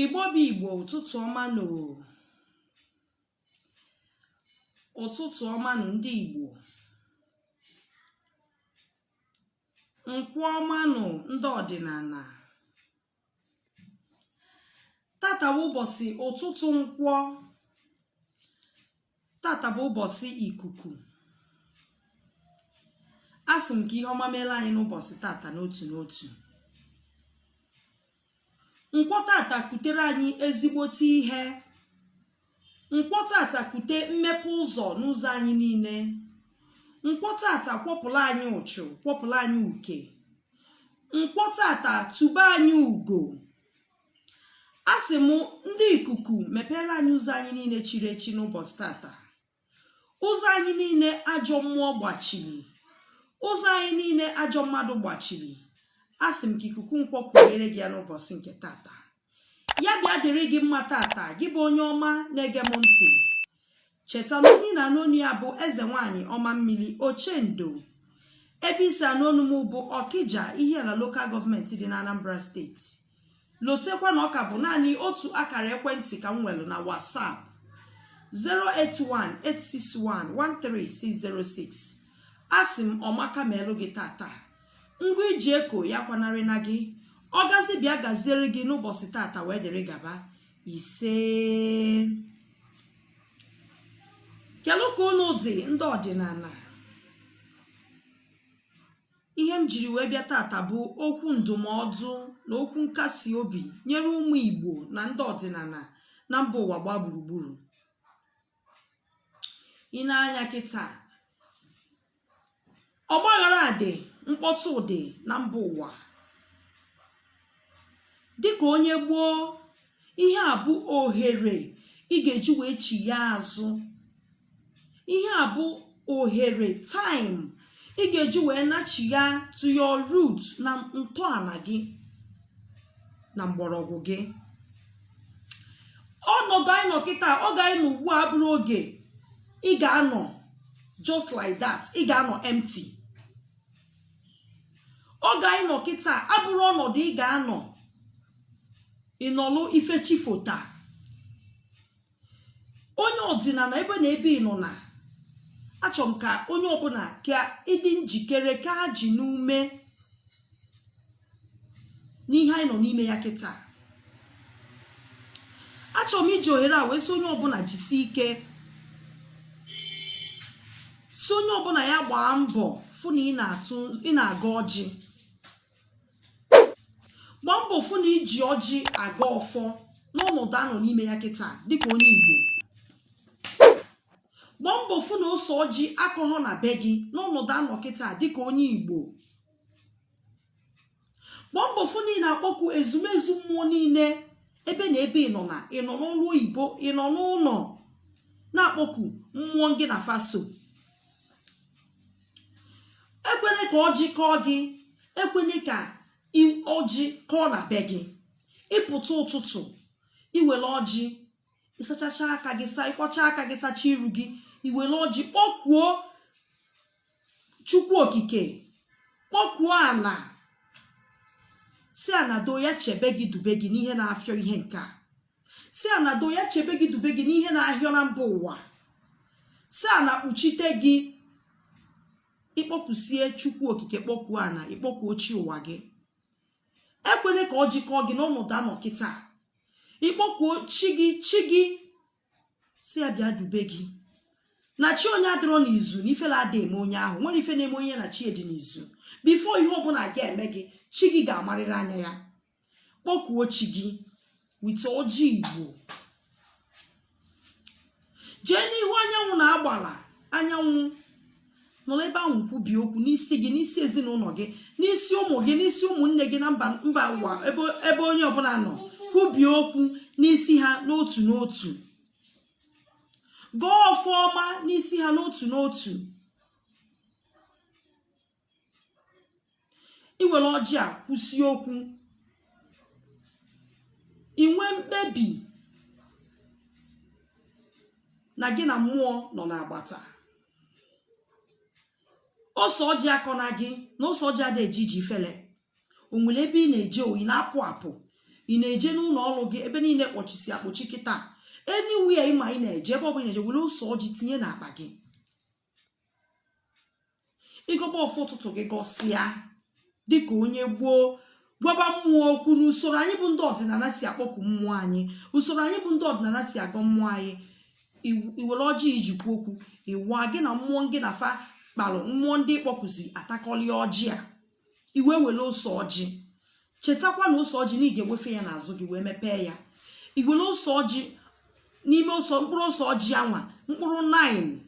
igbo bụ igbo ụtụtụ ọma nụ ụtụtụ ọma nụ ndị igbo nkwọ ọma nụ ndị ọdịnana tata bụ ụbọsị ụtụtụ nkwọ tata bụ ụbọsị ikuku a sị m ka ihe ọma meela anyị n'ụbọsị tata n'otu n'otu nkwọ tata kutere anyị ezigbote ihe nkwọ tata kute mmepe ụzọ n'ụzọ anyị niile nkwọ tata kwọpụla anyị ụchụ kwọpụla anyị uke nkwọ tata tube anyị ugo a sị m ndị ikuku mepeere anyị ụzọ anyị niile chiri echi n'ụbọsị tata ụzọ anyị niile ajọ mmụọ gbachiri ụzọ anyị niile ajọ mmadụ gbachiri a sị m ka ikuku nkwọ kugheere gị ya n'ụbọsị nke tata ya bịa dịrị gị mma tata gị bụ onye ọma na-ege m ntị cheta na onye ị na-anụ onu ya bụ eze nwanyị ọma mmiri ochendo ebe i si anụ onu m bụ ọkija ihiala lokal gọọmenti dị n'anambra steeti lotekwa na ọ ka bụ naanị otu akara ekwentị ka m nwere na WhatsApp 08186113606 a sị m ọmaka meelụ gị tata ngwa i ji eko ya akwanarịna gị ọgazi bịa gaziere gị n'ụbọchị tata wee dịrị gaba isee kelụ ka unu dị ndị ọdịnala ihe m jiri wee bịa tata bụ okwu ndụmọdụ na okwu nkasi obi nyere ụmụ igbo na ndị ọdịnana na mba ụwa gbaa gburugburu i nee anya kịta ọgbaghara dị mkpọtụ dị na mba ụwa dịka onye igbo ihe a bụ ohere ị ga-eji wee chigha azụ ihe a bụ ohere time ị ga-eji wee nachigha to your root na ntọana gị na mgbọrọgwụ gị ọnọdụ anyị nọ kịta oge anyị nọ ugbu a abụrọ oge ị ga-anọ just like that ị ga-anọ empty oge anyị nọ kịta abụrọ ọnọdụ ị ga-anọ ị nọlụ ife chifota onye ọdịnana ebe na ebe ị nọna achọrọ m ka onye ọbụna ka ị dị njikere kee ajị n'ume n'ihe anyị nọ n'ime ya kịta achọrọ m iji ohere a wee sị onye ọbụla jisie ike sị onye ọbụla ya gbaa mbọ fụ na ị na-agọ ọjị gbaa mbọ fụ na iji ọjị agọ ọfọ n'ọnọdụ a nọ n'ime ya kịta dịka onye Igbo gbaa mbọ fụ na ose ọjị akọghọ na be gị n'ọnọdụ a nọ kịta dịka onye Igbo gbaa mbọ fụ na ị na-akpọku ezumezu mmụọ niile ebe na ebe ị nọ na ị nọ n'ọrụ oyibo ị nọ n'ụlọ na-akpọku mmụọ gị na fa so ekwene ka ọjị kọọ gị ekwene ka ọjị kọọ na be gị ị pụta ụtụtụ i were ọjị ị sachacha aka gị sa ị kwọcha aka gị sacha iru gị i were ọjị kpọkuo chukwu okike kpọkuo ana sị ana doo ya chebe gị dube gị n'ihe na-afịọ ihe nke a sị ana doo ya chebe gị dube gị n'ihe na-ahịọ na mba ụwa sị ana kpuchite gị ị kpọkusie chukwu okike kpọkuo ana ị kpọkuo chi ụwa gị ekwene ka ọjị kọọ gị n'ọnọdụ a nọ kịta ị kpọkuo chi gị chi gị sị ya bịa dube gị na chi onye adịrọ n'izu na ifele ada eme onye ahụ nwere ife na-eme onye na chi dị n'izu before ihe ọbụla ga-eme gị chi gị ga-amarịrị anya ya kpọkuo chi gị with ọjị igbo jee n'ihu anyanwụ na agbala anyanwụ nọrọ ebe ahụ kwubie okwu n'isi gị n'isi ezinụlọ gị n'isi ụmụ gị n'isi ụmụnne gị na mba mba ụwa ebe onye ọbụla nọ kwubie okwu n'isi ha n'otu n'otu gọọ ọfọ ọma n'isi ha n'otu n'otu i were ọjị a kwusie okwu i nwee mkpebi na gị na mmụọ nọ n'agbata ose ọjị akọna gị na ose ọjị ada eji eji ifele o nwere ebe ị na-eje o ị na-apụ apụ ị na-eje n'ụlọ ọrụ gị ebe niile kpọchisi akpọchi kịta anywhere ị ma ị na-eje ebe ọ bụla ị na-eje were ose ọjị tinye n'akpa gị ị gọba ọfọ ụtụtụ gị gọsịa dịka onye gboo gwaba mmụọ okwu na usoro anyị bụ ndị ọdịnala si akpọku mmụọ anyị usoro anyị bụ ndị ọdịnala si agọ mmụọ anyị iw- i were ọjị i ji kwuo okwu ị waa gị na mmụọ gị na fa kpalụ mmụọ ndị ị kpọkuzi atakọlịa ọjị a i wee were ose ọjị chetakwa na ose ọjị na ị ga-ewefe ya n'azụ gị wee mepee ya i were ose ọjị n'ime ose mkpụrụ ose ọjị anwa mkpụrụ 9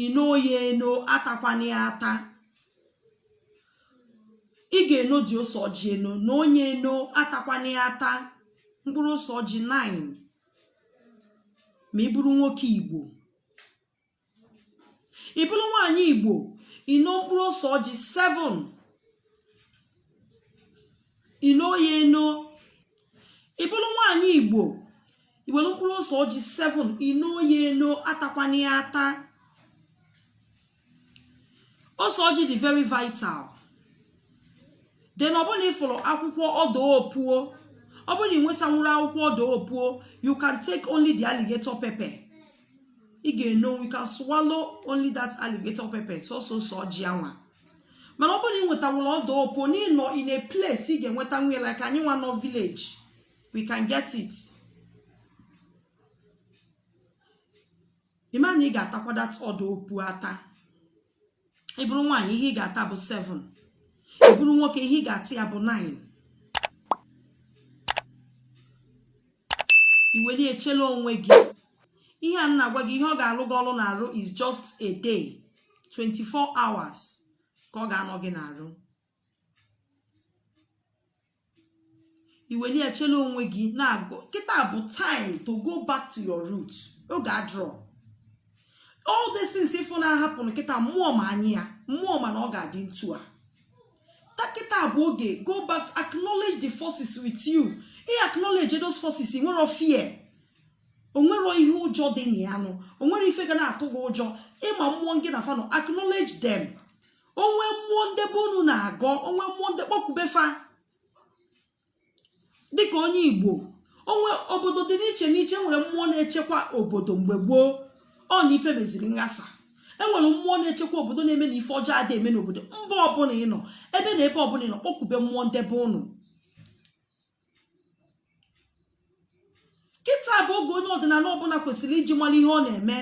ino ya eno atakwana ya ata ị ga-eno the ose ọjị eno noo ya eno atakwana ya ata mkpụrụ ose ọjị 9 ma ị bụrụ nwoke igbo ị bụrụ nwaanyị igbo ino mkpụrụ ose ọjị 7 ino ya eno ị bụrụ nwaanyị igbo iwere mkpụrụ ose ọjị 7 ino ya eno atakwana ya ata ose ọjị dị very vital then ọ bụrụ n'ị fụrọ akwụkwọ ọdaa opuo ọ bụrụ na ị nwetanwuro akwụkwọ ọdaa opuo you can take only the alligator pepper ị ga-eno you can swallow only that alligator pepper sọsọ ose ọjị anwa mana ọ bụrụ na ị nwetanwuru ọdaa opuo n'ịnọ in a place ị ga-enwetanwu ya like anyị nwa nọ village we can get it ịma na ị ga-atakwa that ọdaa opuo ata ị bụrụ nwaanyị ihe ị ga-ata bụ 7 ị bụrụ nwoke ihe ị ga-ata ya bụ 9 iweli echela onwe gị ihe a m na-agwa gị ihe ọ ga-alụ gị ọlụ n'arụ is just a day 24 hours ka ọ ga-anọ gị n'arụ iweli ya chela onwe gị n'arụ kịta bụ time to go back to your root oge adịrọ all these things ịfụ na-ahappen kịta mmụọ ma anyị ya mmụọ ma na ọ ga-adị ntu a kịta bụ oge go back to acknowledge the forces with you ị acknowledge those forces nwero fear onwero ihe ụjọ dị na ya nụ onwero ife ga na-atụ gị ụjọ ịma mmụọ gị na fa nọ acknowledge them onwe mmụọ ndị be unu na-agọ onwe mmụọ ndị kpọkube fa dịka onye igbo onwe obodo dị n'iche n'iche nwere mmụọ na-echekwa obodo mgbe gboo ọ na ife meziri nghasa enwere mmụọ na-echekwa obodo na-eme na ife ọjọọ adị eme n'obodo mba ọbụla ị nọ ebe na ebe ọbụla ị nọ kpọkube mmụọ ndị be unu kịta bụ oge onye ọdịnala ọbụla kwesịrị iji mara ihe ọ na-eme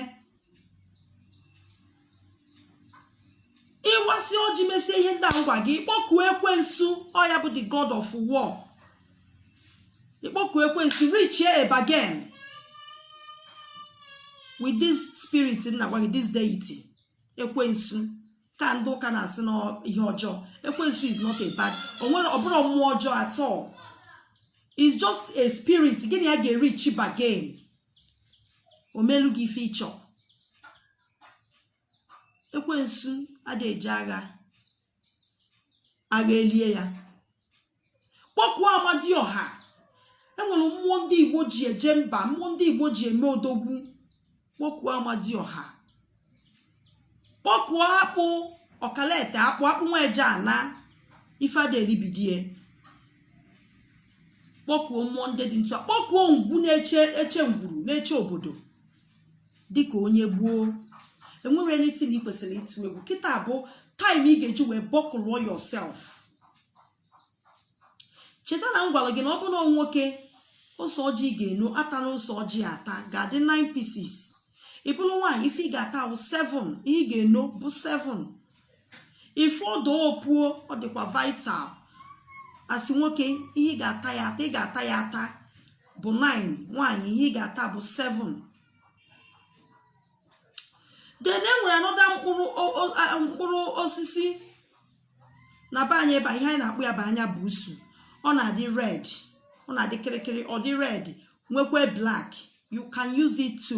ịwasị ọjị mesie ihe ndị a m gwa gị ịkpọkuo ekwensu ọ ya bụ the god of war ịkpọkuo ekwensu reach a bargain with this spirit m na-agwa gị this deity ekwensu ka ndị ụka na-asị na ihe ọjọọ ekwensu is not a bad ọbụrọ mmụọ ọjọọ at all is just a spirit gị na ya ga-ereach a bargain omelu gị ife ịchọ ekwensu ada eji agha agha elie ya kpọkuo amadioha e nwere mmụọ ndị igbo ji eje mba mmụọ ndị igbo ji eme odogwu kpọkuo amadioha kpọkuo akpụ ọkalete akpụ akpụ nwa eje ana ife ada eribidie kpọkuo mmụọ ndị dị etu a kpọkuo ngwu na-eche ngwuru na-eche obodo dịka onye gboo enwere anything ị kwesịrị ịtụ egwu kịta bụ time ị ga-eji wee buckle up yourself cheta na m gwara gị na ọ bụrụ nwoke ose ọjị ị ga-eno atala ose ọjị ata ga-adị 9 pieces ị bụrụ nwaanyị ife ị ga-ata wụ 7 ihe ị ga-eno bụ 7 ife ọdọ opuo ọ dịkwa vital asị nwoke ihe ị ga-ata ya ata bụ 9 nwaanyị ihe ị ga-ata bụ 7 then e nwere another mkpụrụ osisi na be anyị ebe ihe anyị na-akpọ ya bụ anya buusu ọ na-adị red ọ na-adị kịrịkịrị ọ dị red nwekwa black you can use it to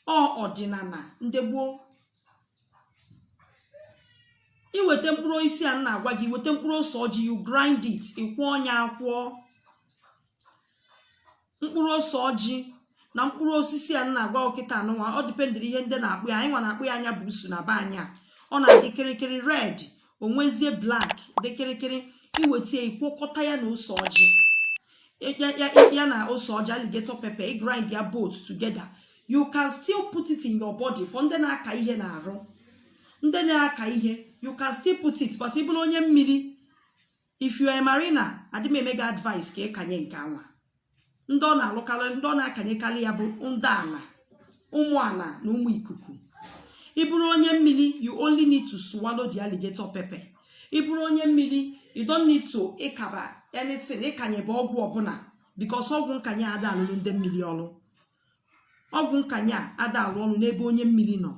ọ ọdịnala ndị gboo i weta mkpụrụ osisi a m na-agwa gị weta mkpụrụ ose ọjị you grind it ị kwọọ nya akwọ mkpụrụ ose ọjị na mkpụrụ osisi a m na-agwa gị kịta anụnwa ọ dịpendịrị ihe ndị na-akpọ ya anyị nwa na-akpọ ya anya buusu na be anyị a ọ na-adị kịrịkịrị red o nwezie black dị kịrịkịrị i weta ya ị kwọkọta ya na ose ọjị ya na ose ọjị alligator pepper ị grind ya both together you can still put it in your body for ndị na-aka ihe n'arụ ndị na-aka ihe you can still put it but ị bụrụ onye mmiri if you are a marina adị m eme gị advice ka ịkanye nke anwa ndị ọ na-alụkarị ndị ọ na-akanyekarị ya bụ ndị ala ụmụ ala na ụmụ ikuku ị bụrụ onye mmiri you only need to swallow the alligator pepper ị bụrụ onye mmiri you don't need to ịkaba anything ịkanyebe ọgwụ ọbụla because ọgwụ nkanye ada alụrụ ndị mmiri ọrụ ọgwụ nkanye a ada alụ ọrụ n'ebe onye mmiri nọ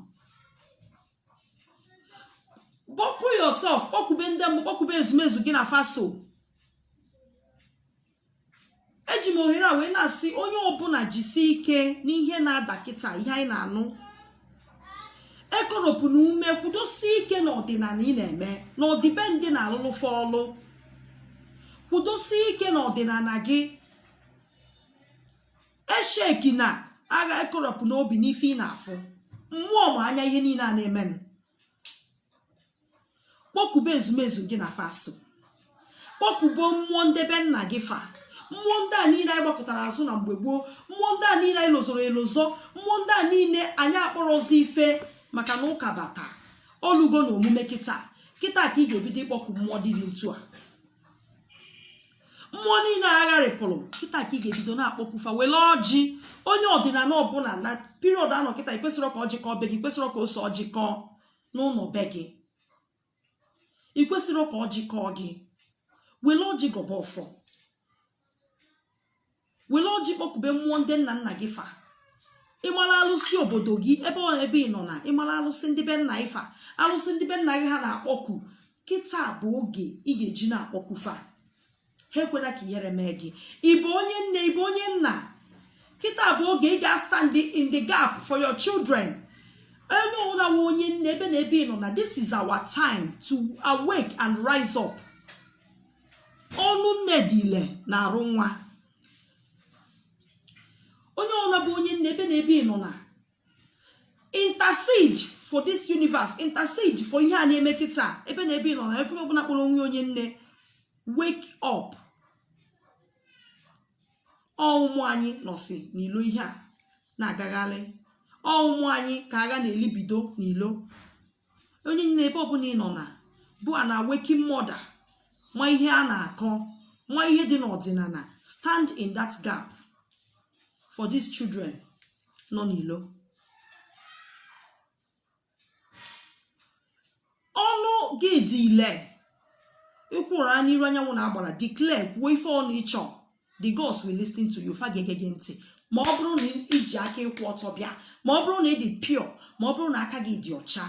buckle up yourself kpọkube ndị mmụọ kpọkube ezumezu gị na fa so eji m ohere a wee na-asị onye ọbụla jisi ike n'ihe na-ada kịta ihe anyị na-anụ ekoropụna ume kwudosie ike n'ọdịnala ị na-eme na ọdịbendị na-alụlụ fa ọlụ kwudosie ike n'ọdịnala gị esheki na agha ekorọpụ n'obi n'ife ị na-afụ mmụọ ma anya ihe niile a na-emenụ kpọkube ezumezu gị na fa so kpọkube mmụọ ndị be nna gị fa mmụọ ndị a niile anyị gbakụtara azụ na mgbe gboo mmụọ ndị a niile anyị lozọrọ elozọ mmụọ ndị a niile anyị akpọrọzi ife maka na ụka bata olugo na omume kịta kịta ka ị ga-ebido ịkpọku mmụọ dị dị ntu a mmụọ niile a gharịpụrụ kịta ka ị ga-ebido na-akpọku fa were ọjị onye ọdịnala ọbụla na period a nọ kịta ị kwesịrọ ka ọjị kọọ be gị ị kwesịrọ ka ose ọjị kọọ n'ụlọ be gị ị kwesịrọ ka ọjị kọọ gị were ọjị gọba ọfọ were ọjị kpọkube mmụọ ndị nna nna gị fa ị mara alụsị obodo gị ebe ọ ebe ị nọ na ị mara alụsị ndị be nna ị fa alụsị ndị be nna gị ha na-akpọku kịta bụ oge ị ga-eji na-akpọku fa ha ekwela ka ihere mee gị ị bụ onye nne ị bụ onye nna kịta bụ oge ị ga-astand in the gap for your children onye ọbụla nwe onye nne ebe na ebe ị nọ na this is our time to awake and rise up ọnụ nne dị ile n'arụ nwa onye ọbụla bụ onye nne ebe na ebe ị nọ na intercede for this universe intercede for ihe a na-eme kịta ebe na ebe ị nọ na ebe ọbụla kpọrọ onwe onye nne wake up ọ ụmụ anyị nọsị n'ilo ihe a na-agagharị ọ ụmụ anyị ka agha na-elibido n'ilo onye nne ebe ọbụla ị nọ na bụ an awakened mother ma ihe a na-akọ ma ihe dị n'ọdịnala stand in that gap for these children nọ n'ilo ọnụ gị dị ile ị kwụrụ n'iru anyanwụ na agbara declare kwuo ife ọbụla ị chọ the gods will listen to you fa ga-ege gị ntị ma ọ bụrụ na i ji aka ịkwụ ọtọ bịa ma ọ bụrụ na ị dị pure ma ọ bụrụ na aka gị dị ọcha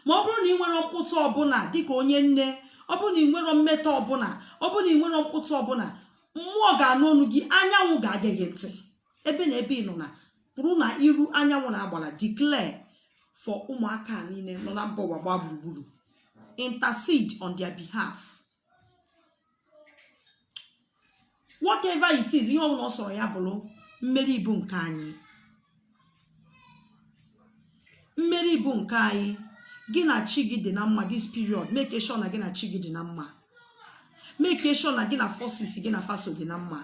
ma ọ bụrụ na ị nwere mkpụtụ ọbụla dịka onye nne ọ bụrụ na ị nwere mmetọ ọbụla ọ bụrụ na ị nwere mkpụtụ ọbụla mmụọ ga-anụ ọnụ gị anyanwụ ga-ege gị ntị ebe na ebe ị nọ na kwụrụ na iru anyanwụ na agbara declare for ụmụaka niile nọ na mba ụwa gbaa gburugburu intercede on their behalf whatever it is ihe ọbụla ọ sọrọ ya bụrụ mmeri bụ nke anyị mmeri bụ nke anyị gị na chi gị dị na mma this period make sure na gị na chi gị dị na mma make sure na gị na forces gị na fa so dị na mma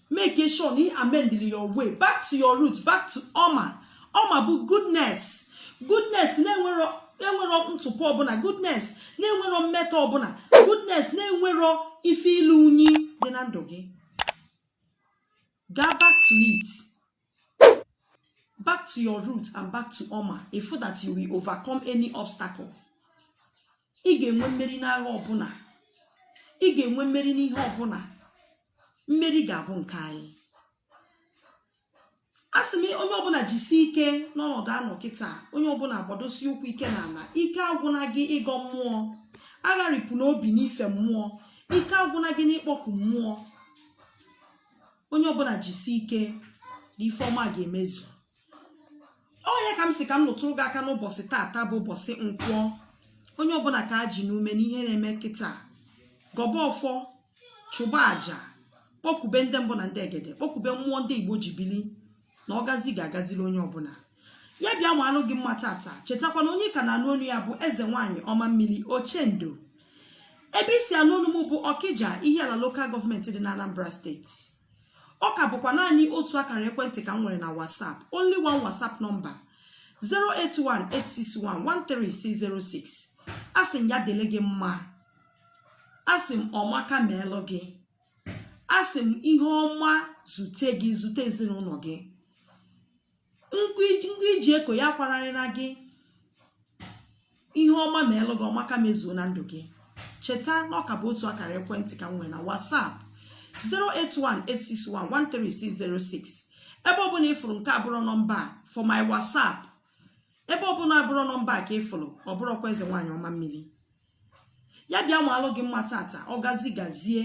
make sure na ị amendili your way back to your root back to ọma ọma bụ goodness goodness na-enwerọ na-enwerọ ntụpọ ọbụla goodness na-enwerọ mmetọ ọbụla goodness na-enwerọ ife ilu unyi dị na ndụ gị gaa back to it back to your root and back to oma ị fụ that you will overcome any obstacle ị ga-enwe mmeri n'agha ọbụla ị ga-enwe mmeri n'ihe ọbụla mmeri ga-abụ nke anyị a sị m onye ọbụla jisi ike n'ọnọdụ a nọ kịta onye ọbụla gbadosie ụkwụ ike n'ala ike agwụna gị ịgọ mmụọ agharịpụna obi n'ife mmụọ ike agwụna gị n'ịkpọku mmụọ onye ọbụla jisi ike na ife ọma ga-emezu ọ ya ka m sị ka m lụtụrụ gị aka n'ụbọchị taata bụ ụbọchị nkwọ onye ọbụla ka a ji n'ume n'ihe na-eme kịta gọba ọfọ chụba aja kpọkube ndị mbụ na ndị egede kpọkube mmụọ ndị igbo ji bili na ọgazi ga-agaziri onye ọbụla ya bịa maalụ gị mma tata chetakwa na onye ka na-anụ onu ya bụ eze nwaanyị ọma mmiri ochendo ebe i si anụ onu m bụ ọkịja ihiala lokal gọọmenti dị na anambra steeti ọ ka bụkwa naanị otu akara ekwentị ka m nwere na whatsapp only one whatsapp nọmba 08186113606 asị m ya dịlị gị mma asị m ọmaka meelụ gị a sị m ihe ọma zute gị zute ezinụlọ gị nke i ji eko ya akwararịna gị ihe ọma meelụ gị ọmaka mezuo na ndụ gị cheta na ọ ka bụ otu akara ekwentị ka m nwere na WhatsApp 08186113606 ebe ọbụla ị fụrụ nke abụrọ nọmba for my WhatsApp ebe ọbụla abụrọ nọmba ka ị fụrụ ọ bụrọkwa eze nwaanyị ọma mmiri ya bịa maalụ gị mma tata ọgazi gazie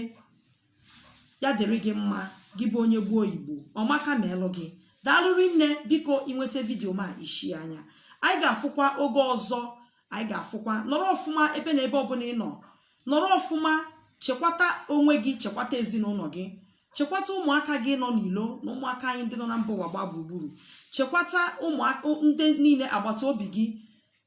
ya dịrị gị mma gị bụ onye gboo oyibo ọmaka meelụ gị daalụ rinne biko i nweta vidiyo m a ị share ya anyị ga-afụkwa oge ọzọ anyị ga-afụkwa nọrọ ọfụma ebe na ebe ọbụla ị nọ nọrọ ọfụma chekwata onwe gị chekwata ezinụlọ gị chekwata ụmụaka gị nọ n'ilo na ụmụaka anyị ndị nọ na mba ụwa gbaa gburugburu chekwata ụmụaka ndị niile agbata obi gị